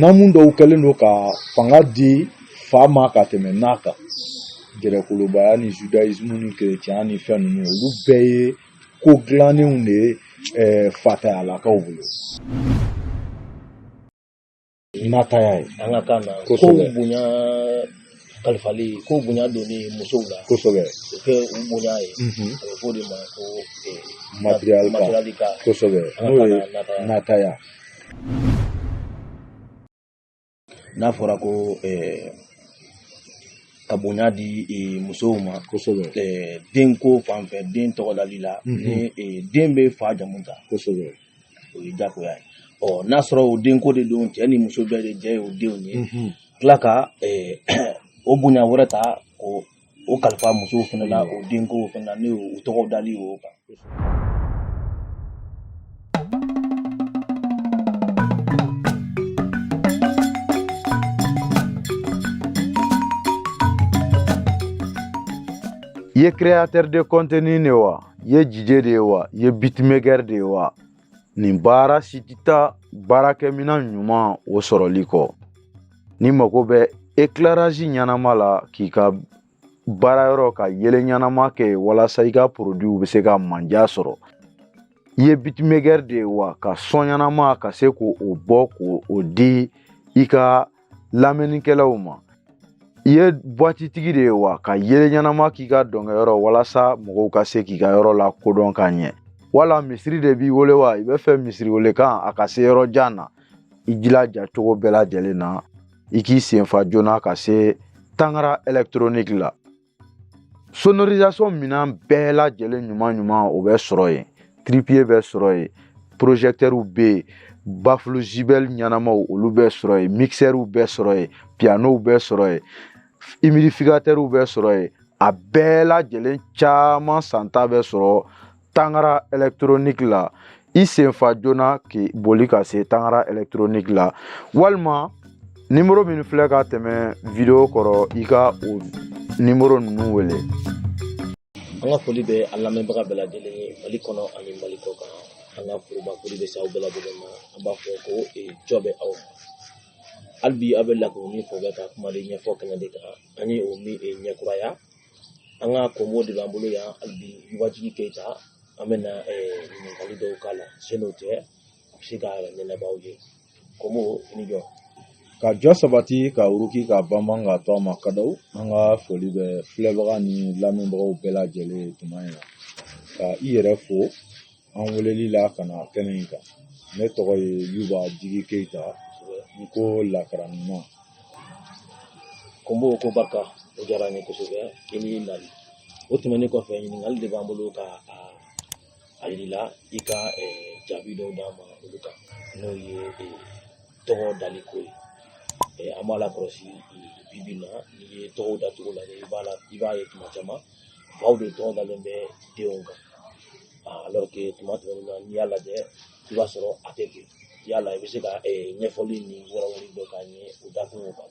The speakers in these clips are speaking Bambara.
namu dɔw kɛlen don ka fanga di fa ma ka tɛmɛ na kan gɛrɛkolobaya ni judaisme ni kerecɛnya ni fɛn ninnu olu bɛɛ ye ko dilannenw de ye eh, fatayalakaw bolo nataya ye an ka kan na ko bonya kalifali ko bonya donni musow la kosɛbɛ o kɛ u bonya ye a bɛ fɔ o de ma ko matiriyarika kosɛbɛ n'o ye nataya n'a fɔra ko ka bonya di musow ma kosɛbɛ denko fan fɛ den tɔgɔdali la ni den bɛ fa jamu ta kosɛbɛ o ye jagoya ye ɔ n'a sɔrɔ o denko de don cɛ ni muso bɛɛ de jɛ ye o denw ye tila ka o bonya wɛrɛ ta k'o kalifa musow fana la o denko fana na n'o tɔgɔdali o kan i ye créateur de contenu de ye wa i ye DJ de ye wa i ye beatmaker de ye wa nin baara si tɛ taa baarakɛminɛn ɲuman o sɔrɔli kɔ n'i mago bɛ ekilarazi ɲɛnama la k'i ka baarayɔrɔ ka yeelen ɲɛnama kɛ walasa i ka porodiw bɛ se ka manja sɔrɔ i ye beatmaker de ye wa ka sɔn ɲɛnama ka se k'o bɔ k'o di i ka lamɛnnikɛlaw ma i ye buwatitigi de ye wa ka yeelen ɲɛnama k'i ka dɔnkɛyɔrɔ walasa mɔgɔw ka se k'i ka yɔrɔ lakodɔn ka ɲɛ wala misiri de b'i wele wa i bɛ fɛ misiri welekan a ka se yɔrɔ jan na i jilaja cogo bɛɛ lajɛlen na i k'i senfa joona ka se tangara ɛlɛkitoroniki la sonorisation minɛn bɛɛ lajɛlen ɲuman ɲuman o bɛ sɔrɔ yen trépied bɛ sɔrɔ yen projecteurs bɛ yen bafulu JBL ɲɛnamaw olu bɛ sɔrɔ yen mixɛriw bɛ sɔrɔ yen pianow bɛ sɔrɔ yen humidificateurs bɛ sɔrɔ yen a bɛɛ lajɛlen caman santa bɛ sɔrɔ tangara ɛlɛkitoroniki la i senfa joona k'i boli ka se tangara ɛlɛkitoroniki la walima nimoro min filɛ ka tɛmɛ video kɔrɔ i ka o nimoro ninnu wele an ka foli bɛ a lamɛnbaga bɛɛ lajɛlen ye mali kɔnɔ ani mali kɔkan an ka foroba foli bɛ se aw bɛɛ lajɛlen ma an b'a fɔ ko jɔ bɛ aw ma hali bi aw bɛ lakuruni fɔ bɛ ka kuma de ɲɛfɔ kɛnɛ de kan an ye o min ɲɛkuraya an ka komo de b'an bolo yan hali bi yubajigi keyita an bɛna ɲininkali dɔw k'a la sen'o tɛ a bɛ se ka ɲɛnabɔ aw ye komo i ni jɔ ka jɔ sabati ka uruki ka banban ka to a ma kadaw an ka foli bɛ filɛbaga ni lamɛnbagaw bɛɛ lajɛlen tuma in na ka i yɛrɛ fo an weleli la ka na kɛnɛ in kan ne tɔgɔ ye yuba jigi keyita n ko lakara ɲuman ko n b'o ko barika o diyara n ye kosɛbɛ i ni nali o tɛmɛnen kɔfɛ ɲininkali de b'an bolo ka a yira i la i ka jaabi dɔw d'an ma olu kan n'o ye tɔgɔ dali ko ye an b'a lakɔlɔsi bibi in na n'i ye tɔgɔw dacogo lajɛ i b'a la i b'a ye tuma caman faw de tɔgɔ dalen bɛ denw kan alors que tuma tɛmɛnen na n'i y'a lajɛ i b'a sɔrɔ a tɛ ten yala i bɛ se ka ɲɛfɔli ni wɛrɛwɛrɛ dɔ k'an ye o dakunw kan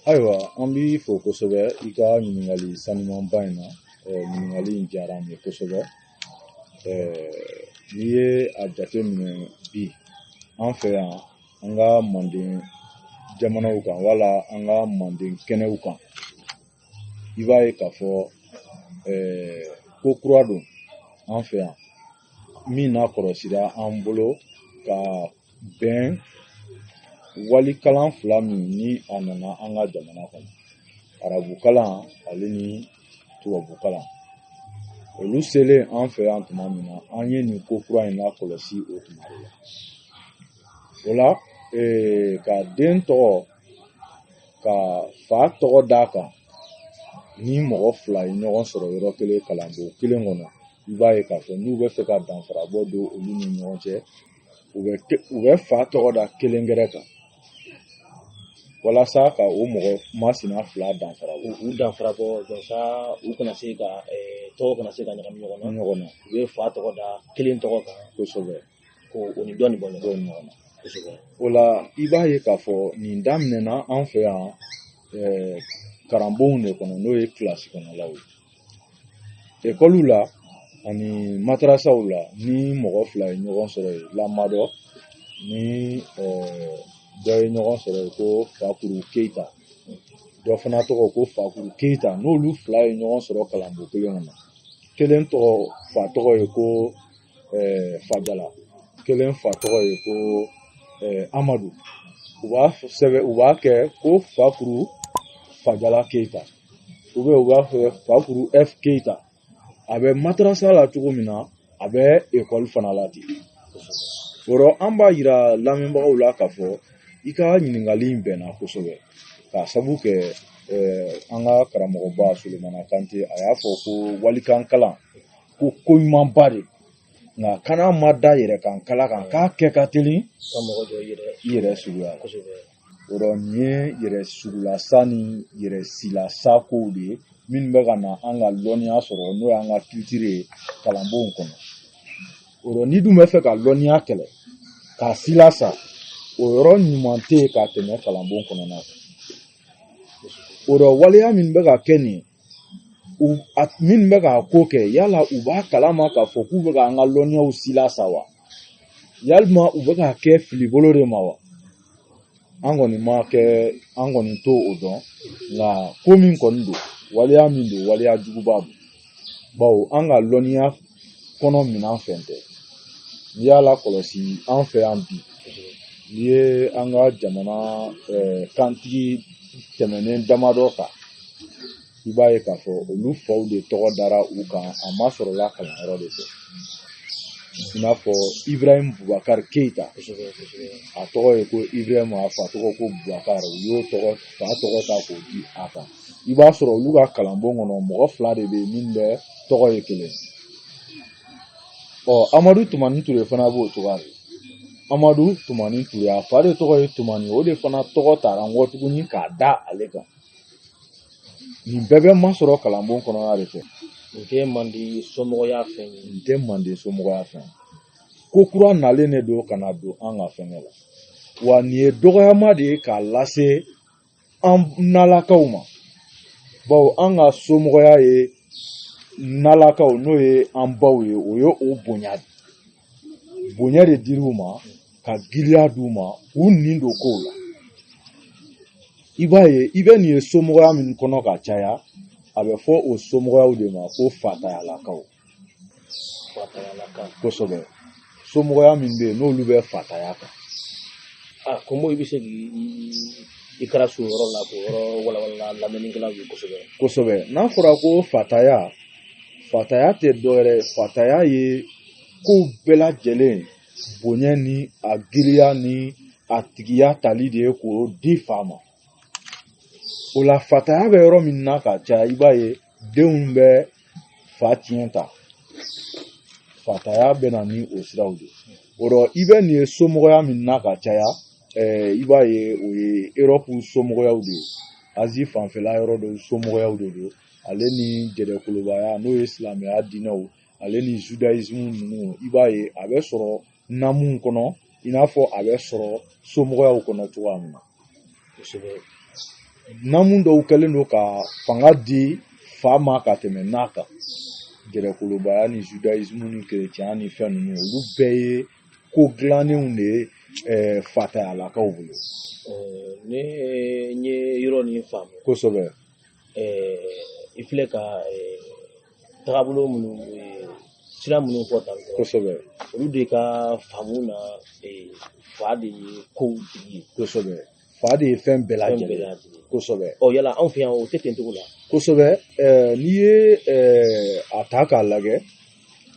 ayiwa an b'i fo kosɛbɛ i ka ɲininkali sanumanba in na ɲininkali in diyara n ye kosɛbɛ n'i ye a jateminɛ bi an fɛ yan an ka manden jamanaw kan wala an ka manden kɛnɛw kan i b'a ye k'a fɔ ko kura don an fɛ yan min nakɔlɔsira an bolo ka bɛn wali kalan fila min ni a nana an ka jamana kɔnɔ arabu kalan ale ni tubabu kalan olu selen an fɛ yan tuma min na an ye nin ko kura in lakɔlɔsi o tuma de la o la ka den tɔgɔ ka fa tɔgɔ d'a kan ni mɔgɔ fila ye ɲɔgɔn sɔrɔ yɔrɔ kelen kalanbon kelen kɔnɔ i b'a ye k'a fɔ n'u bɛ fɛ ka danfara bɔ don olu ni ɲɔgɔn cɛ u bɛ u bɛ fa tɔgɔ da kelen gɛrɛ kan walasa ka o mɔgɔ masina fila danfara bɔ u danfara bɔ walasa u kana se ka tɔgɔw kana se ka ɲagami ɲɔgɔn na ɲɔgɔn na u bɛ fa tɔgɔ da kelen tɔgɔ kan kosɛbɛ ko o ni dɔɔnin bɔ ɲɔgɔn na kosɛbɛ o la i b'a ye k'a fɔ nin daminɛna an fɛ yan ɛɛ kalanbonw de kɔnɔ n'o ye kilasi kɔnɔlaw ye ekɔliw la ani matarasaw la ni mɔgɔ fila ye ɲɔgɔn sɔrɔ yen lamadɔ ni ɛɛ dɔ ye ɲɔgɔn sɔrɔ yen ko fakuru keyita dɔ fana tɔgɔ ko fakuru keyita n'olu fila ye ɲɔgɔn sɔrɔ kalanbon kelen kɔnɔ kelen tɔgɔ fa tɔgɔ ye ko fajala kelen fa tɔgɔ ye ko amadu u b'a sɛbɛn u b'a kɛ ko fakuru fajala keyita u bɛ u b'a fɔ fakuru f keyita a bɛ matarasa la cogo min na a bɛ ekɔli fana la ten o rɔ an b'a yira lamɛnbagaw la k'a fɔ i ka ɲininkali in bɛnna kosɛbɛ k'a sabu kɛ an ka karamɔgɔba solomana kante a y'a fɔ ko walikan kalan ko ko ɲumanba de nka kana ma da yɛrɛ kan kala kan k'a kɛ ka teli ka mɔgɔ dɔ yɛrɛ yɛrɛ suguya kosɛbɛ yɔrɔ nin ye yɛrɛ sugulasa ni yɛrɛ silasa kow de ye minnu bɛ ka na an ka lɔnniya sɔrɔ n'o y'an ka kilitiri ye kalanbonw kɔnɔ yɔrɔ n'i dun bɛ fɛ ka lɔnniya kɛlɛ k'a silasa o yɔrɔ ɲuman tɛ yen ka tɛmɛ kalanbon kɔnɔna kan o yɔrɔ waleya min bɛ ka kɛ nin ye wa minnu bɛ k'a ko kɛ yala u b'a kalama k'a fɔ k'u bɛ ka an ka lɔnniyaw silasa wa yalima u bɛ k'a kɛ fili bolo de ma wa an kɔni ma kɛ an kɔni t'o dɔn nka ko min kɔni don waleya min don waleya juguba don bawo an ka lɔnniya kɔnɔ minan fɛn tɛ n'i y'a lakɔlɔsi an fɛ yan bi n'i ye an ka jamana kantigi tɛmɛnen damadɔ ta i b'a ye k'a fɔ olu faw de tɔgɔ dara u kan a masɔrɔla kalanyɔrɔ de fɛ i n'a fɔ iburahimu bubakari keyita a tɔgɔ ye ko iburahimu a fa tɔgɔ ko bubakari u y'o tɔgɔ fa tɔgɔ ta k'o di a kan i b'a sɔrɔ olu ka kalanbon kɔnɔ mɔgɔ fila de bɛ yen min bɛɛ tɔgɔ ye kelen ɔ amadu tumani ture fana b'o cogoya de amadu tumani ture a fa de tɔgɔ ye tumani o de fana tɔgɔ tara i kɔ tuguni k'a da ale kan nin bɛɛ bɛ masɔrɔ kalanbon kɔnɔna de fɛ nin tɛ mande somɔgɔya fɛn ye nin tɛ mande somɔgɔya fɛn ye ko kura nalen de don ka na don an ka fɛnkɛ la wa nin ye dɔgɔyama de ye k'a lase an nalakaw ma bawo an ka somɔgɔya ye nalakaw n'o ye an baw ye o ye o bonya de bonya de dir'u ma ka giriya d'u ma u nin don kow la i b'a ye i bɛ nin ye somɔgɔya min kɔnɔ ka caya a bɛ fɔ o somɔgɔyaw de ma ko fatayalakaw kosɛbɛ somɔgɔya min bɛ yen n'olu bɛ fataya kan a ah, komo i bɛ se k'i i kɛra so yɔrɔ la k'o yɔrɔ walawala lamɛnnikɛlaw ye kosɛbɛ kosɛbɛ n'a fɔra ko fataya fataya tɛ dɔwɛrɛ fataya ye kow bɛɛ lajɛlen bonya ni a giriya ni a tigiya tali de ye k'o di fa ma o la fataya bɛ yɔrɔ min na ka caya i b'a ye denw bɛ fa tiɲɛ ta fataya bɛ na ni o siraw de ye o rɔ i bɛ nin ye somɔgɔya min na ka caya i b'a ye o ye erɔpu somɔgɔyaw de ye azi fanfɛla yɔrɔ dɔw somɔgɔyaw de don ale ni jɛdɛkolobaya n'o ye silamɛya diinɛw ale ni zudayisimu ninnu i b'a ye a bɛ sɔrɔ namuw kɔnɔ i n'a fɔ a bɛ sɔrɔ somɔgɔyaw kɔnɔ cogoya min na namu dɔw kɛlen don ka fanga di fa ma ka tɛmɛ n'a kan gɛrɛkolobaya ni judaisme ni kerecɛnya ni fɛn ninnu olu bɛɛ ye ko dilannenw de ye eh, fatayalakaw bolo eh, ne n ye yɔrɔ nin faamu kosɛbɛ eh, i filɛ ka tagabolo minnu sira minnu fɔ tan kosɛbɛ olu de ka faamu na fa de ye kow tigi ye kosɛbɛ fa de ye fɛn bɛɛ lajɛlen kosɛbɛ ɔ yala anw fɛ yan o tɛ ten cogo la kosɛbɛ n'i ye a ta k'a lajɛ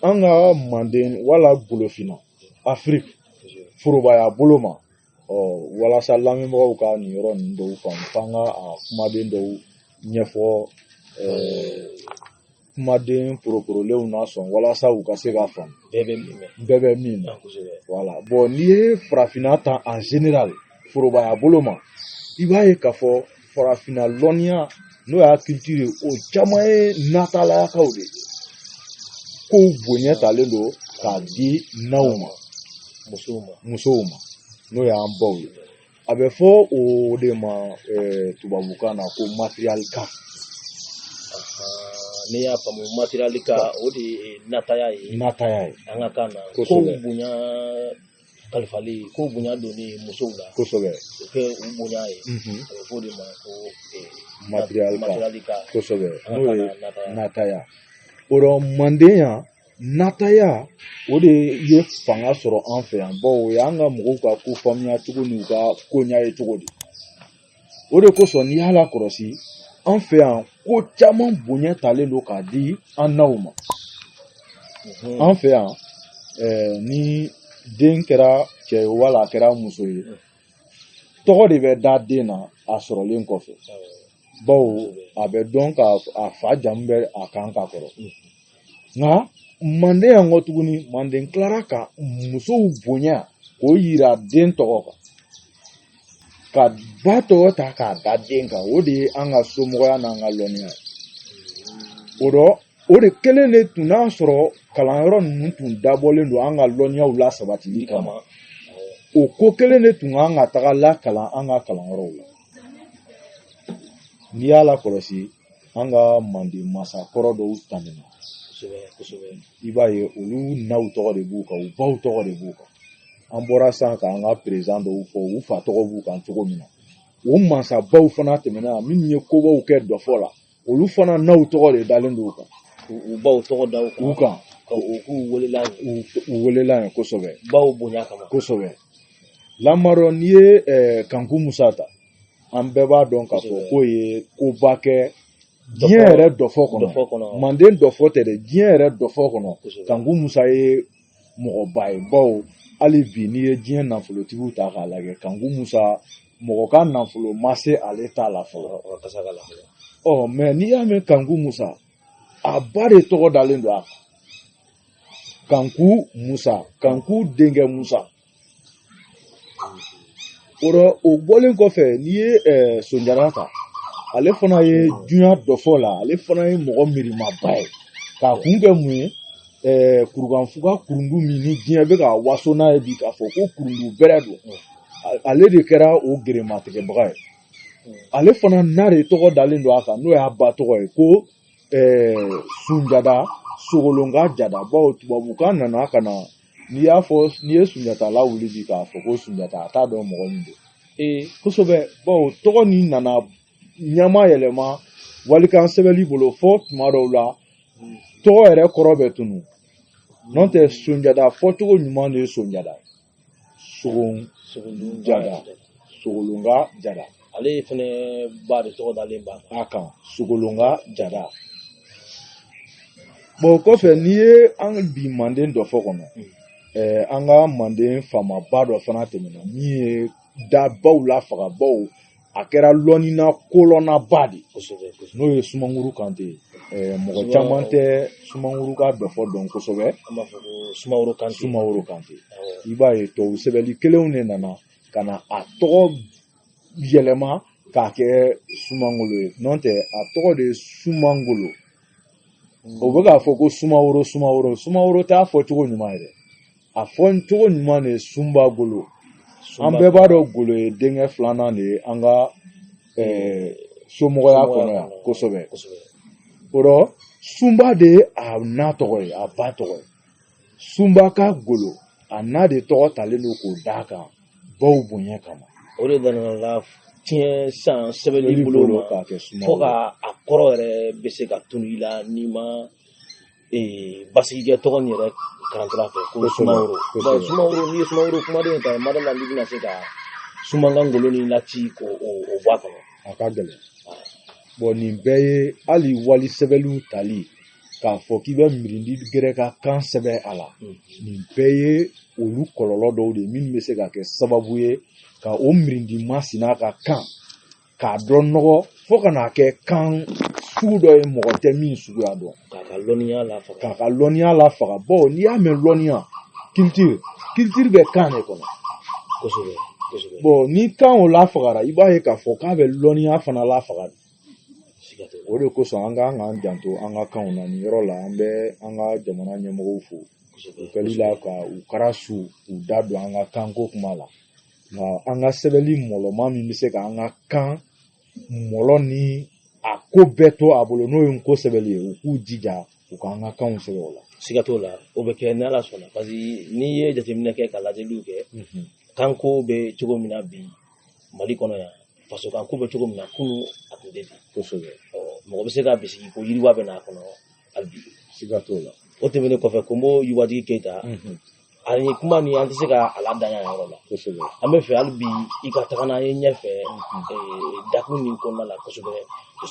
an ka manden wala golofinna afiriki forobaya bolo ma ɔ walasa lamɛnbagaw ka nin yɔrɔ ninnu dɔw faamu f'an ka a kumaden dɔw ɲɛfɔ kumaden poroporolenw na sɔn walasa u ka se ka faamu bɛɛ bɛ min mɛn bɛɛ bɛ min na wala bɔn n'i ye farafinna ta en général forobaya bolo ma i b'a ye k'a fɔ farafinna lɔnniya n'o y'a kilitiri ye o caman ye natayalakaw de ye kow bonya talen don k'a di naw ma musow ma n'o y'an baw ye a bɛ fɔ o de ma tubabukan na ko matriarcat ne y'a faamu matriarcat o de ye nataya ye nataya ye an ka kan na kow bonya kalifali ko bonya donni musow la kosɛbɛ o kɛ u bonya ye a bɛ fɔ o de ma ko matriarcat kosɛbɛ n'o ye nataya o rɔ manden yan nataya o de ye fanga sɔrɔ an fɛ yan bawo o y'an ka mɔgɔw ka ko faamuya cogo n'u ka ko ɲɛ ye cogo di o de kosɔn n'i y'a lakɔlɔsi an fɛ yan ko caman bonya talen don k'a di an naw ma an fɛ yan ni den kɛra cɛ ye wala a kɛra muso ye tɔgɔ de bɛ da den na a sɔrɔlen kɔfɛ bawo a bɛ dɔn ka a fa jamu bɛ a kan ka kɔrɔ nka manden yan kɔ tuguni manden tilara ka musow bonya k'o yira den tɔgɔ kan ka ba tɔgɔ ta k'a da den kan o de ye an ka somɔgɔya n'an ka lɔnniya o dɔ o de kelen de tun n'a sɔrɔ kalanyɔrɔ ninnu tun dabɔlen don an ka lɔnniyaw la sabatili kama o ko kelen de tun kan ka taga lakalan an ka kalanyɔrɔw la n'i y'a lakɔlɔsi an ka manden mansa kɔrɔ dɔw tɛmɛna kosɛbɛ kosɛbɛ i b'a ye olu naw tɔgɔ de b'u kan u baw tɔgɔ de b'u kan an bɔra san ka an ka perezan dɔw fɔ u fa tɔgɔ b'u kan cogo min na o mansabaw fana tɛmɛna minnu ye kobaw kɛ dɔfɔ la olu fana naw tɔgɔ de dalen don u kan u baw tɔgɔ da u kan u kan ka u k'u welela u welela yen kosɛbɛ baw bonya kama kosɛbɛ lamarɔ n'i ye kanku musa ta an bɛɛ b'a dɔn k'a fɔ k'o ye koba kɛ diɲɛ yɛrɛ dɔfɔ kɔnɔ manden dɔfɔ tɛ dɛ diɲɛ yɛrɛ dɔfɔ kɔnɔ kanku musa ye mɔgɔba ye bawo hali bi n'i ye diɲɛ nafolotigiw ta k'a lajɛ kanku musa mɔgɔ ka nafolo ma se ale ta la fɔlɔ ɔ mɛ n'i y'a mɛn kanku musa a ba de tɔgɔ dalen don a kan kanku musa kanku denkɛ musa o rɔ o bɔlen kɔfɛ n'i ye ɛɛ sonjada ta ale fana ye dunya dɔfɔ la ale fana ye mɔgɔ miirimaba ye k'a kun kɛ mun ye ɛɛ kurukanfuga kurundu min ni diɲɛ bɛ ka waso n'a ye bi k'a fɔ ko kurundu bɛrɛ don ale de kɛra o gerematigɛbaga ye ale fana na de tɔgɔ dalen don a kan n'o y'a ba tɔgɔ ye ko ɛɛ sunjada sogolon ka jada bawo tubabukan nana ka na n'i y'a fɔ n'i ye sunjata lawuli bi k'a fɔ ko sunjata a t'a dɔn mɔgɔ min don ee kosɛbɛ bawo tɔgɔ nin nana ɲama yɛlɛma walikan sɛbɛnli bolo fɔ tuma dɔw la tɔgɔ yɛrɛ kɔrɔ bɛ tunu n'o tɛ sonjada fɔcogo ɲuman de ye sonjada sogo jada sogolon ka jada ale fɛnɛ ba de tɔgɔ dalen b'a kan sogolon ka jada o bɔlen kɔfɛ n'i ye an bi manden dɔfɔ kɔnɔ hmm. eh, an ka manden faamaba dɔ fana tɛmɛna min ye dabaw la fagabaw a kɛra lɔnnina kolɔnnaba de kosɛbɛ n'o ye sumanguru kante ye eh, mɔgɔ caman tɛ sumanguru ka dɔfɔ dɔn kosɛbɛ sumaworo kante sumaworo kante i b'a ye tubabu sɛbɛnni kɛlenw de nana ka na a tɔgɔ yɛlɛma k'a kɛ sumangolo ye n'o tɛ a tɔgɔ de ye sumangolo o bɛ k'a fɔ ko sumaworo sumaworo sumaworo t'a fɔcogo ɲuman ye dɛ a fɔcogo ɲuman de ye sunba golo an bɛɛ b'a dɔn golo ye denkɛ filanan de ye an ka somɔgɔya kɔnɔ yan kosɛbɛ o rɔ sunba de ye a na tɔgɔ ye a ba tɔgɔ ye sunba ka golo a n'a de tɔgɔ talen don k'o d'a kan baw bonya kama o de nana latiɲɛ san sɛbɛnni bolo ma k'a kɛ sumaworo fo ka a kɔrɔ yɛrɛ bɛ se ka tunu i la n'i ma ee basigikɛ tɔgɔ nin yɛrɛ karantara fɛ ko sumaworo sumaworo n'i ye sumaworo kumaden in ta mada la n'i bɛna se ka sumankan ngolo ni lati k'o o bɔ a kɔnɔ a ka gɛlɛn bɔn nin bɛɛ ye hali wali sɛbɛnliw tali k'a fɔ k'i bɛ mirindi gɛrɛ ka kan sɛbɛn a la nin bɛɛ ye olu kɔlɔlɔ dɔw de minnu bɛ se ka kɛ sababu ye ka o mirindi masina ka kan k'a dɔn nɔgɔ fo ka n'a kɛ kan sugu dɔ ye mɔgɔ tɛ min suguya dɔn k'a ka lɔnniya lafaga k'a ka lɔnniya lafaga bawo n'i y'a mɛn lɔnniya culture culture bɛ kan de kɔnɔ kosɛbɛ kosɛbɛ ni kan o lafagara i b'a ye k'a fɔ k'a bɛ lɔnniya fana lafaga o de kosɔn an kan k'an janto an ka kanw na nin yɔrɔ la an bɛ an ka jamana ɲɛmɔgɔw fo u kɛli la ka u kɛra su u da don an ka kanko kuma la nka an ka sɛbɛnni mɔlɔma min bɛ se ka an ka kan mɔlɔ ni a ko bɛɛ to a bolo n'o ye nko sɛbɛnni ye u k'u jija u k'an ka kanw sɛbɛn o la siga t'o la o bɛ kɛ ni ala sɔnna parce que n'i ye jateminɛ kɛ ka lajɛliw kɛ kanko bɛ cogo min na bi mali kɔnɔ yan faso kanko bɛ cogo min na kunun a tun tɛ ten kosɛbɛ ɔ mɔgɔ bɛ se ka bisigi ko yiriwa bɛ n'a kɔnɔ hali bi siga t'o la o tɛmɛnen kɔfɛ ko n b'o yiwatigi keyita a ye kuma nin an tɛ se ka a ladanya yan yɔrɔ la kosɛbɛ an b'a fɛ hali bi i ka taga n'an ye ɲɛfɛ ee, dakun nin kɔnɔna la kosɛbɛ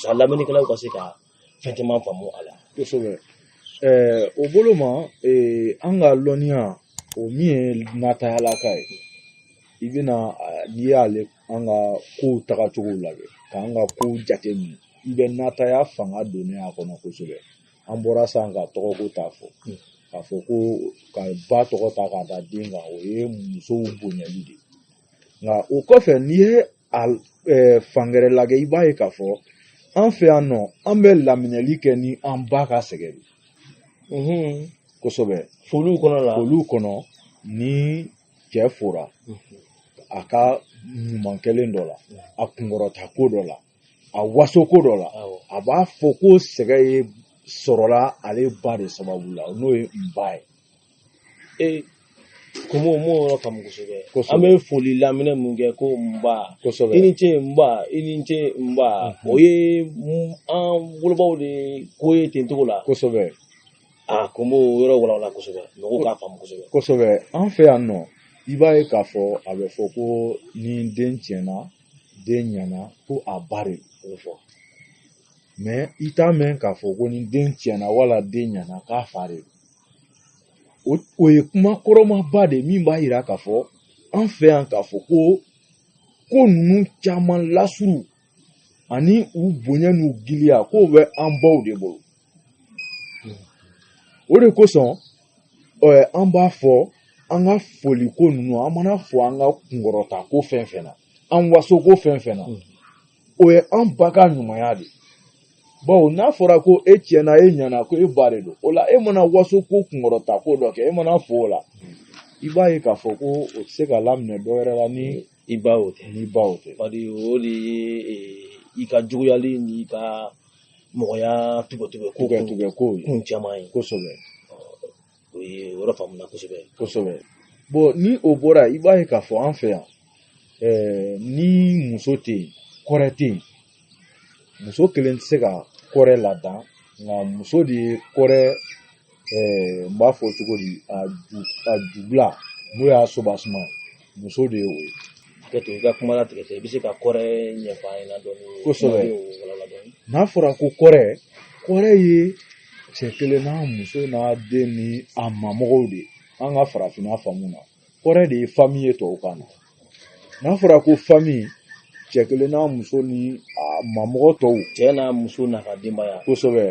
sa lamɛnnikɛlaw ka se ka fɛn caman faamu a la kosɛbɛ ɛɛ o bolo ma ee, an ka lɔnniya o min ye natayalaka ye i bɛna a, n'i y'ale an ka kow tagacogo lajɛ k'an ka kow jate minɛ i bɛ nataya fanga donnen a kɔnɔ kosɛbɛ an bɔra san ka tɔgɔko ta fɔ k'a fɔ ko ka ba tɔgɔ ta k'a da den kan o ye musow bonyali de nka o kɔfɛ n'i ye a fan gɛrɛ lajɛ i b'a ye k'a fɔ an fɛ yan nɔ an bɛ laminɛli kɛ ni an ba ka sɛgɛn de kosɛbɛ foliw kɔnɔ la foliw kɔnɔ ni cɛ fora a ka ɲuman kɛlen dɔ la a kunkɔrɔta ko dɔ la a waso ko dɔ la a b'a fɔ ko sɛgɛ ye sɔrɔla ale ba de sababu la n'o ye n ba ye ee komi o m'o yɔrɔ faamu kosɛbɛ an bɛ foli laminɛ mun kɛ ko n ba kosɛbɛ i ni ce n ba i ni ce n ba o ye an wolobaw de ko ye ten cogo la kosɛbɛ a kun b'o yɔrɔ walawala kosɛbɛ mɔgɔw k'a faamu kosɛbɛ kosɛbɛ an fɛ yan nɔ i b'a ye k'a fɔ a bɛ fɔ ko ni den tiɲɛna den ɲɛna ko a ba de o fɔ mɛ i t'a mɛn k'a fɔ ko ni den tiɲɛna wala den ɲɛna k'a fa de o o ye kuma kɔrɔmaba de min b'a yira k'a fɔ an fɛ yan k'a fɔ ko ko ninnu caman lasuru ani u bonya n'u giliya k'o bɛ an baw de bolo o de kosɔn an b'a fɔ an ka foli ko ninnu an mana fɔ an ka kunkɔrɔta ko fɛn fɛn na an waso ko fɛn fɛn na o ye an ba ka ɲumanya de ye bawo n'a fɔra ko e tiɲɛna e ɲɛna ko e ba de don o la e mana waso ko kunkɔrɔta ko dɔ kɛ e mana fɔ o la i b'a ye k'a fɔ ko o tɛ se ka laminɛ dɔ wɛrɛ la ni i ba o tɛ ni ba o tɛ bari o de ye i ka juguyali ni ka mɔgɔya tugutugu ko kun tugutugu ko ye kun caman ye kosɛbɛ o ye o yɔrɔ faamuna kosɛbɛ kosɛbɛ bɔn ni o bɔra i b'a ye k'a fɔ an fɛ yan ɛɛ eh, ni muso tɛ yen kɔrɛ tɛ yen muso kelen tɛ se ka kɔrɛ ladan nka muso de ye kɔrɛ ɛɛ n b'a fɔ cogo di a ju a jubila n'o y'a sobasuma muso de ye o ye ka to i ka kuma latigɛ i bɛ se ka kɔrɛ ɲɛfɔ an ɲɛna dɔɔni kosɛbɛ n'a fɔra ko kɔrɛ kɔrɛ ye cɛ kelen n'a muso n'a den ni a mamɔgɔw de ye an ka farafinna faamu na kɔrɛ de ye fami ye tubabukan na n'a fɔra ko fami cɛ kelen n'a muso ni a mamɔgɔ tɔw cɛ n'a muso n'a ka denbaya kosɛbɛ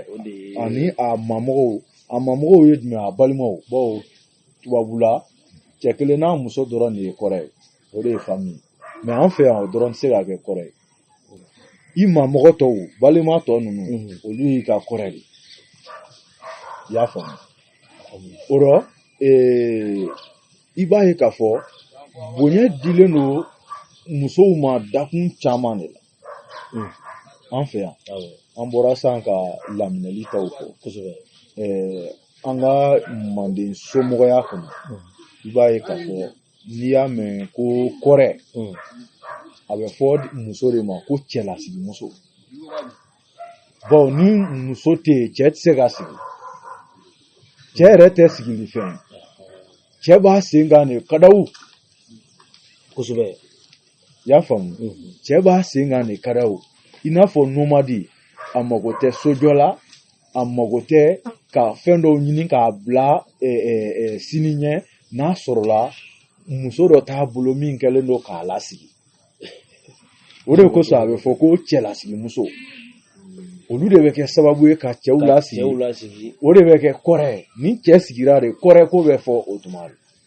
ani a mamɔgɔw a mamɔgɔw ye jumɛn a balimaw bawo tubabula cɛ kelen n'a muso dɔrɔn de ye kɔrɛ ye o de ye fami ye mɛ an fɛ yan o dɔrɔn tɛ se ka kɛ kɔrɛ ye i mamɔgɔ tɔw balima tɔ ninnu olu y'i ka kɔrɛ de i y'a faamu o rɔ i b'a ye k'a fɔ bonya dilen don musow ma dakun caman de la an fɛ yan an bɔra san ka laminɛli taw fɔ kosɛbɛ an ka manden somɔgɔya kɔnɔ i b'a ye k'a fɔ n'i y'a mɛn ko kɔrɛ a bɛ fɔ muso de ma ko cɛlasigi muso bawo ni muso tɛ yen cɛ tɛ se ka sigi cɛ yɛrɛ tɛ sigili fɛ cɛ b'a sen kan de kadaw kosɛbɛ i y'a faamu cɛ b'a sen kan de kadaw i n'a fɔ nomadi a mago tɛ sojɔ la a mago tɛ ka fɛn dɔw ɲini k'a bila sini ɲɛ n'a sɔrɔla muso dɔ t'a bolo min kɛlen don k'a lasigi o de kosɔn a bɛ fɔ ko cɛlasigi muso olu de bɛ kɛ sababu ye ka cɛw lasigi o de bɛ kɛ kɔrɛ ni cɛ sigira de kɔrɛ ko bɛ fɔ o tuma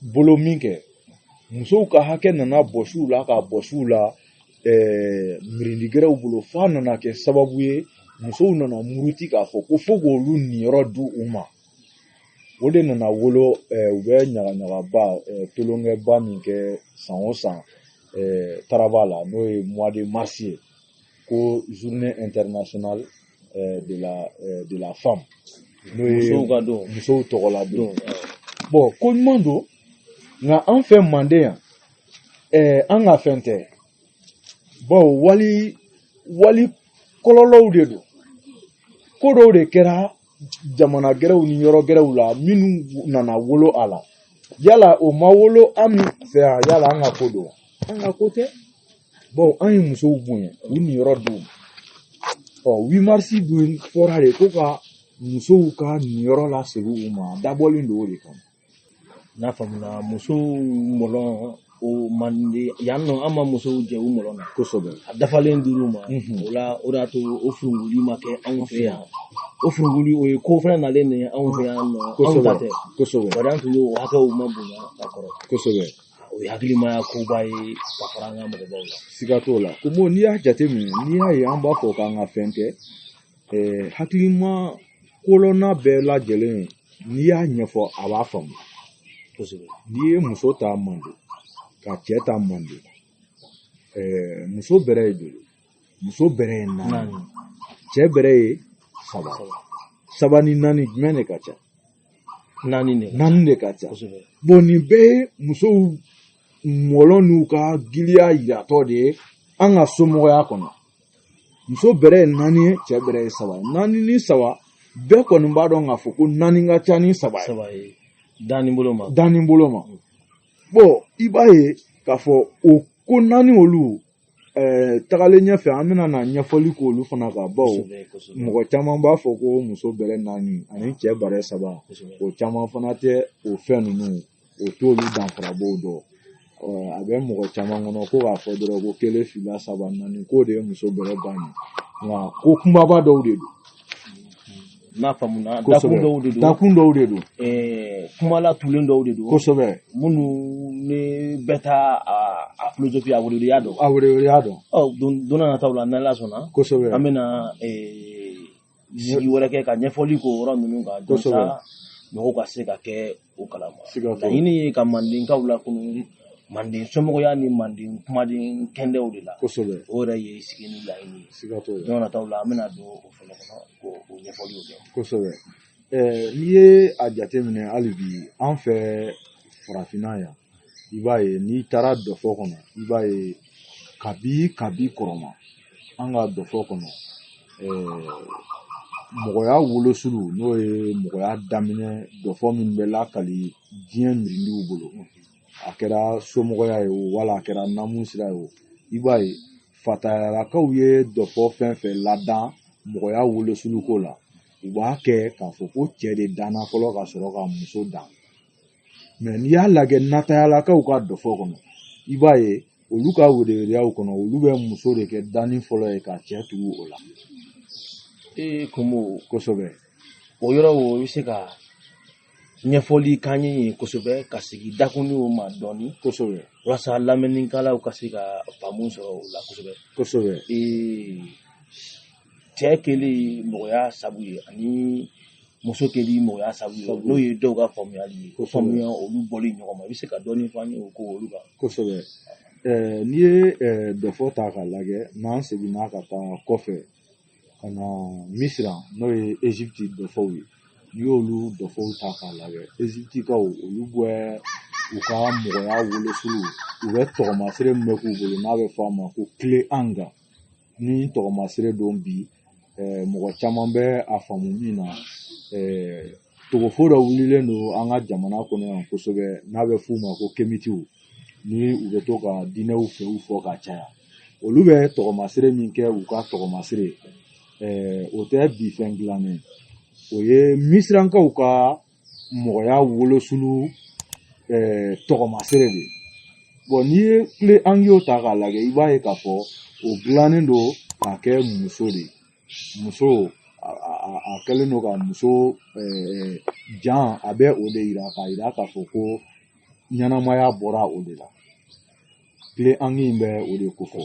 bolo min kɛ musow ka hakɛ nana bɔsi u la k'a bɔsi u la ɛɛ mirindigɛrɛw bolo f'a nana kɛ sababu ye musow nana muruti k'a fɔ ko fo k'olu niyɔrɔ di u ma o de nana wolo ɛɛ u bɛ ɲagaɲagaba ɛɛ tolonkɛba min kɛ san o san ɛɛ taraba la n'o ye mois de mars ye ko journée internationale euh, de la euh, de la femme n'o ye musow ka don musow tɔgɔla don don awɔ. bon ko ɲuman don nka an fɛ manden yan ɛɛ an ka fɛn tɛ bawo wali wali kɔlɔlɔw de don ko dɔw de kɛra jamana gɛrɛw ni yɔrɔ gɛrɛw la minnu nana wolo a la yala o ma wolo an fɛ yan yala an ka ko don wa? an ka ko tɛ bawo an ye musow bonya u niyɔrɔ d'u ma huit mars dun fɔra de ko ka musow ka niyɔrɔ lasegin u ma a dabɔlen don o de kama n'a faamuna musow mɔlɔn o mande yan nɔ an ma musow jɛ u mɔlɔn na kosɛbɛ a dafalen dir'u ma mhm. o la o de y'a to o furuguli ma kɛ anw fɛ yan o furuguli o ye ko fɛnɛ nalen de ye anw fɛ yan nɔ anw ta tɛ kosɛbɛ bari an tun y'o hakɛw ma bonya ka kɔrɔ kosɛbɛ o ye hakilimaya koba ye ka fara an ka mɔgɔbaw la siga t'o la ko bon n'i y'a jateminɛ n'i y'a ye an b'a fɔ k'an ka fɛn kɛ hakilima kolonna bɛɛ lajɛlen n'i y'a ɲɛfɔ a b'a faamu kosɛbɛ n'i ye muso ta manden ka cɛ ta manden muso bɛrɛ ye joli muso bɛrɛ ye naani cɛ bɛrɛ ye saba saba ni naani jumɛn de ka ca naani de naani de ka ca kosɛbɛ bon nin bɛɛ ye musow mɔlɔn n'u ka giliya yiratɔ de ye an ka somɔgɔya kɔnɔ muso bɛrɛ ye naani ye cɛ bɛrɛ ye saba ye naani ni saba bɛɛ kɔni b'a dɔn k'a fɔ ko naani ka ca ni saba ye saba ye danni bolo ma danni bolo ma bon i b'a ye k'a fɔ o ko naani olu tagalen ɲɛfɛ an bɛna na ɲɛfɔli k'olu fana kan bawo mɔgɔ caman b'a fɔ ko muso bɛrɛ naani ani cɛ bɛrɛ saba o caman fana tɛ o fɛn ninnu o t'olu danfarabaw dɔn a bɛ mɔgɔ caman kɔnɔ ko k'a fɔ dɔrɔn ko kelen fila saba naani k'o de ye muso bɛrɛ bannen nka ko kunbaba dɔw de don n'a faamuna dakun dɔw de don dakun dɔw de don eh, kuma latulen dɔw de don kosɛbɛ minnu ni bɛɛ ta a filozofi a weleweleya dɔn a weleweleya dɔn ɔ don n'a nataw la n'ala sɔnna kosɛbɛ an bɛna eh, sigi wɛrɛ kɛ ka ɲɛfɔli k'o yɔrɔ ninnu kan walasa mɔgɔw ka se ka kɛ o kalama laɲini ye ka mandenkaw lakunu manden somɔgɔya ni manden kumaden kɛndɛw de la kosɛbɛ o yɛrɛ ye sigi nin laɲini ye siga t'o la don nataw la an bɛna don o fɛnɛ kɔnɔ k'o o ɲɛfɔliw kɛ kosɛbɛ n'i ye a jateminɛ hali bi an fɛ farafinna yan i b'a ye n'i taara dɔfɔ kɔnɔ i b'a ye kabi kabi kɔrɔma an ka dɔfɔ kɔnɔ mɔgɔya wolosulu n'o ye mɔgɔya daminɛ dɔfɔ min bɛ lakali diɲɛ mirindiw bolo a kɛra somɔgɔya ye o wala a kɛra namu sira ye o i b'a ye fatayalakaw ye dɔfɔ fɛn fɛn ladan mɔgɔya wolosulu ko la u b'a kɛ k'a fɔ ko cɛ de danna fɔlɔ ka sɔrɔ ka muso dan mɛ n'i y'a lajɛ natayalakaw ka dɔfɔ kɔnɔ i b'a ye olu ka weleweleyaw kɔnɔ olu bɛ muso de kɛ danni fɔlɔ ye ka cɛ tugu o la ee komo kosɛbɛ o yɔrɔ o i bɛ se ka ɲɛfɔli k'an ye yen kosɛbɛ ka sigi dakun ninw ma dɔɔni kosɛbɛ walasa lamɛnnikɛlaw ka se ka faamu sɔrɔ o la kosɛbɛ kosɛbɛ ee cɛ kɛlen mɔgɔya sabu ye ani muso kɛlen mɔgɔya sabu ye n'o ye dɔw ka faamuyali ye ko faamuya olu bɔli ɲɔgɔn ma i bɛ se ka dɔɔni fɔ an ye o ko olu kan kosɛbɛ n'i ye dɔfɔ ta k'a lajɛ n'an seginna ka taa kɔfɛ ka na misira n'o ye ezipti dɔfɔw ye n'i y'olu dɔfɔw ta k'a lajɛ eziptikaw olu bɛ u ka mɔgɔya wolosulu u bɛ tɔgɔmasire min bɛ k'u bolo n'a bɛ fɔ a ma ko kile anga ni tɔgɔmasire don bi mɔgɔ caman bɛ a faamu min na togofo dɔ wulilen don an ka jamana kɔnɔ yan kosɛbɛ n'a bɛ f'u ma ko kemitiw ni u bɛ to ka diinɛw fɛw fɔ ka caya olu bɛ tɔgɔmasire min kɛ u ka tɔgɔmasire o tɛ bi fɛn dilannen o ye misirankaw ka mɔgɔya wolosulu tɔgɔmasere de don n'i ye clé ankh o ta k'a lajɛ i b'a ye k'a fɔ o dilannen don k'a kɛ muso de ye muso a kɛlen don ka muso jan a bɛ o de yira k'a yira k'a fɔ ko ɲɛnamaya bɔra o de la clé ankh in bɛ o de kofɔ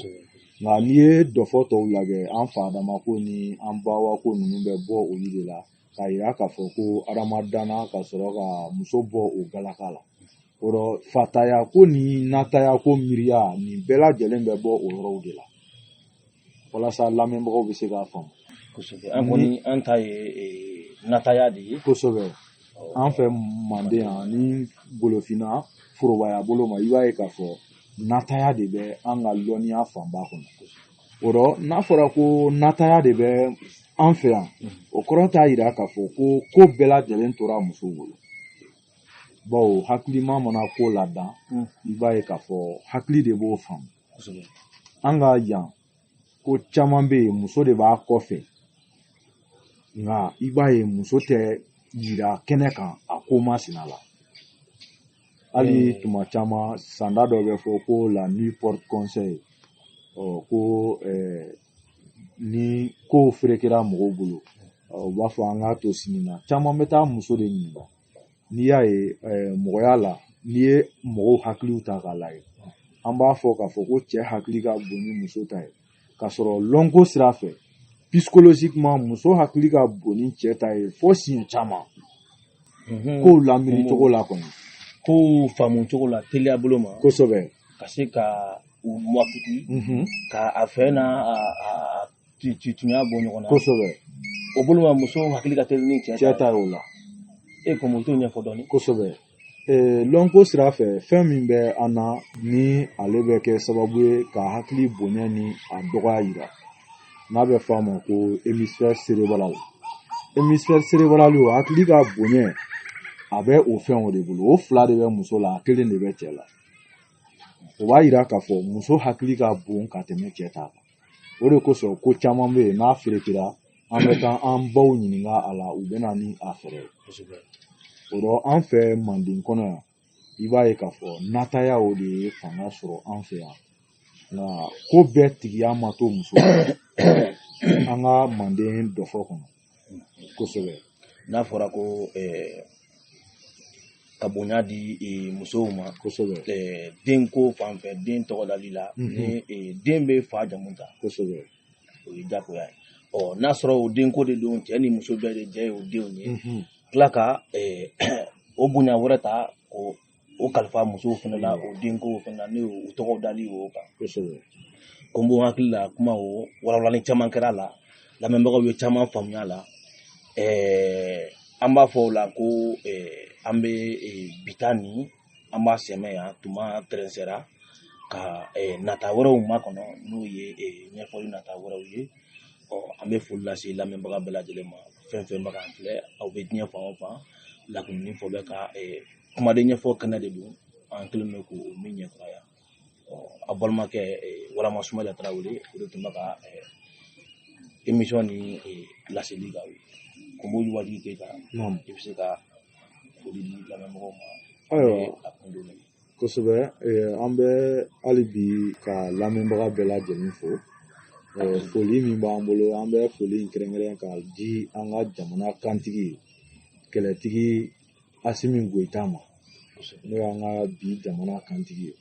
nka n'i ye dɔfɔ tɔw lajɛ an fa adama ko ni an ba awa ko ninnu bɛ bɔ olu de la k'a yira k'a fɔ ko adama dana ka sɔrɔ ka muso bɔ o galaka la o rɔ fataya ko ni nataya ko miiriya nin bɛɛ lajɛlen bɛ bɔ o yɔrɔw de la walasa lamɛnbagaw bɛ se k'a faamu kosɛbɛ an kɔni an ta ye nataya de ye kosɛbɛ an fɛ manden yan ni golofinna forobaya bolo ma i b'a ye k'a fɔ nataya de bɛ an ka lɔnniya fanba kɔnɔ o rɔ n'a fɔra ko nataya de bɛ an fɛ yan o kɔrɔ t'a yira k'a fɔ ko ko bɛɛ lajɛlen tora muso bolo bawo hakilima mana ko ladan hmm. i b'a ye k'a fɔ hakili de b'o faamu an ka yan ko caman bɛ yen muso de b'a kɔfɛ nka i b'a ye muso tɛ yira kɛnɛ kan a ko masina la hali hmm. tuma caman sanda dɔ bɛ fɔ ko la nuit porte conseil ɔ ko eh, ni kow ferekera mɔgɔw bolo u b'a fɔ an k'a to sini na caman bɛ taa muso de ɲininka n'i y'a ye eh, mɔgɔya la n'i ye mɔgɔw hakiliw ta k'a lajɛ an b'a fɔ k'a fɔ ko cɛ hakili ka bon ni muso ta ye k'a sɔrɔ lɔnko sira fɛ psychologiquement muso hakili ka bon ni cɛ ta ye fo siɲɛ caman mhm. kow lamini cogo la kɔni kow faamu cogo la teliya bolo ma kosɛbɛ ka se ka u mɔkiti mhm. ka a fɛ n'a tunya bɔ ɲɔgɔn na kosɛbɛ o bolo ma muso hakili ka teli ni cɛ ta ye o la e kɔni o t'o ɲɛfɔ dɔɔni kosɛbɛ lɔnko sira fɛ fɛn min bɛ an na ni ale bɛ kɛ sababu ye ka hakili bonya ni a dɔgɔya yira n'a bɛ fɔ a ma ko hémisphère cérébral hémisphère cérébral o hakili ka bonya a bɛ o fɛnw de bolo o fila de bɛ muso la a kelen de bɛ cɛ la o b'a yira k'a fɔ muso hakili ka bon ka tɛmɛ cɛ ta kan o de kosɔn ko caman bɛ yen n'a ferekera an bɛ taa an baw ɲininka a la u bɛ na ni a fɛɛrɛ ye o rɔ an fɛ manden kɔnɔ yan i b'a ye k'a fɔ nataya o de ye fanga sɔrɔ an fɛ yan nka ko bɛɛ tigiya ma to muso an ka manden dɔfɔ kɔnɔ kosɛbɛ n'a fɔra ko ka bonya di musow ma kosɛbɛ denko fan fɛ den tɔgɔdali la ni den bɛ fa jamu ta kosɛbɛ o ye jagoya ye ɔ n'a sɔrɔ o denko de don cɛ ni muso bɛɛ de jɛ ye o denw ye tila ka o bonya wɛrɛ ta ka o kalifa musow fana la o denko fan na ne y'o o tɔgɔdali o kan kosɛbɛ ko n b'o hakili la kuma o walawalali caman kɛra a la lamɛnbagaw ye caman faamuya a la ɛɛ an b'a fɔ o la ko ɛɛ an bɛ ee, bi ta ni an b'a sɛmɛ yan tuma tɛrɛnsɛra ka ee, nata wɛrɛw makɔnɔ n'o ye ee, ɲɛfɔli nata wɛrɛw ye ɔ an bɛ foli lase lamɛnbaga bɛɛ lajɛlen ma fɛn o fɛn bɛ k'an filɛ aw bɛ diɲɛ fan o fan lakunni fɔ bɛ ka ee, kumaden ɲɛfɔ kɛnɛ de don an kɛlen bɛ k'o min ɲɛfɔ yan a balimakɛ warama sumayila tarawele o de tun bɛ ka émission ni laseli k'aw ye ko b'olu waati kɛ ka i bɛ se ka foli di lamɛnbagaw ma ayiwa a kun don kosɛbɛ an bɛ hali bi ka lamɛnbaga bɛɛ lajɛlen fo foli min b'an bolo an bɛ foli in kɛrɛnkɛrɛn k'a di an ka jamana kantigi kɛlɛtigi asimi goyita ma n'o y'an ka bi jamana kantigi ye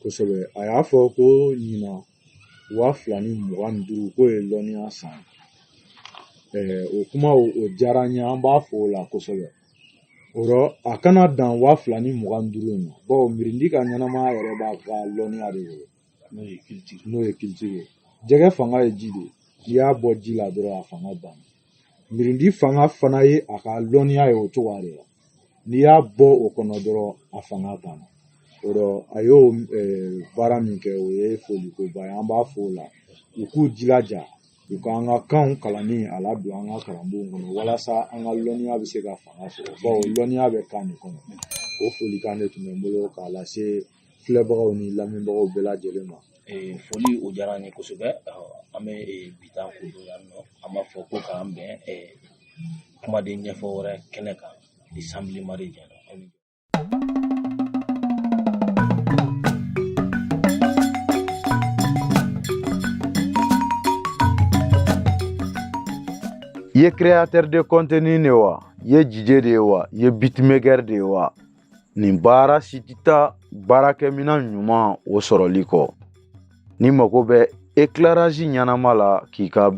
kosɛbɛ a y'a fɔ ko ɲinan waa fila ni mugan ni duuru k'o ye lɔnniya san o kuma o diyara n ye an b'a fɔ o la kosɛbɛ o rɔ a kana dan waa fila ni mugan ni duuru in ma bawo mirindi ka ɲɛnamaya yɛrɛ b'a ka lɔnniya de bolo n'o ye culture ye jɛgɛ fanga ye ji de ye n'i y'a bɔ ji la dɔrɔn a fanga banna mirindi fanga fana ye a ka lɔnniya ye o cogoya de la n'i y'a bɔ o kɔnɔ dɔrɔn a fanga banna o rɔ a y'o baara min kɛ o ye folikoba ye an b'a fɔ o la u k'u jilaja u ka an ka kanw kalanni a ladon an ka kalanbonw kɔnɔ walasa an ka lɔnniya bɛ se ka fanga sɔrɔ bawo lɔnniya bɛ kan de kɔnɔ o folikan de tun bɛ n bolo k'a lase filɛbagaw ni lamɛnbagaw bɛɛ lajɛlen ma ee foli o diyara an ye kosɛbɛ an bɛ bi ta kundon yan nɔ an b'a fɔ ko k'an bɛn kumaden ɲɛfɔ wɛrɛ kɛnɛ kan ni sanbili mari jɛra i ye créateur de contenu de wa i ye DJ de ye wa i ye beatmaker de ye wa nin baara si tɛ taa baarakɛminɛn ɲuman o sɔrɔli kɔ n'i mago bɛ éclairage ɲɛnama la k'i ka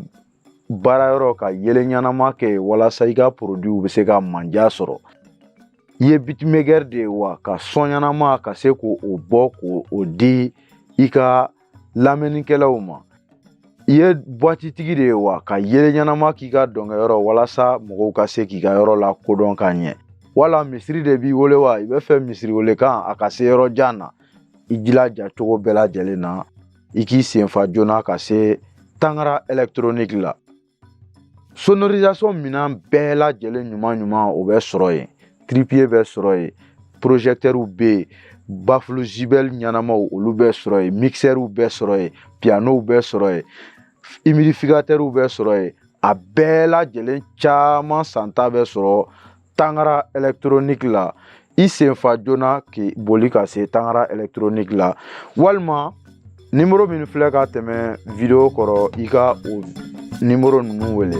baarayɔrɔ ka yeelen ɲɛnama kɛ walasa i ka produitw bɛ se ka manja sɔrɔ i ye beatmaker de ye wa ka son ɲɛnama ka se k'o bɔ k'o di i ka lamɛnnikɛlaw ma i ye buwatitigi de ye wa ka yeelen ɲɛnama k'i ka dɔnkɛyɔrɔ walasa mɔgɔw ka se k'i ka yɔrɔ la ko dɔn ka ɲɛ wala misiri de b'i bolo wa i b'a fɛ misiri welekan a ka se yɔrɔ jan na i jilaja cogo bɛɛ lajɛlen na i k'i senfa joona ka se tangara ɛlɛkitoroniki la sonorisation minɛn bɛɛ lajɛlen ɲuman ɲuman o bɛ sɔrɔ yen trépied bɛ sɔrɔ yen projecteurs bɛ yen baffle JBL ɲɛnamaw olu bɛ sɔrɔ yen mixeurw bɛ sɔrɔ yen pianow bɛ sɔrɔ yen humidificateurs bɛ sɔrɔ yen a bɛɛ lajɛlen caman santa bɛ sɔrɔ tangara ɛlɛkitoroniki la i senfa joona k'i boli ka se tangara ɛlɛkitoroniki la walima nimoro min filɛ ka tɛmɛ video kɔrɔ i ka o nimoro ninnu wele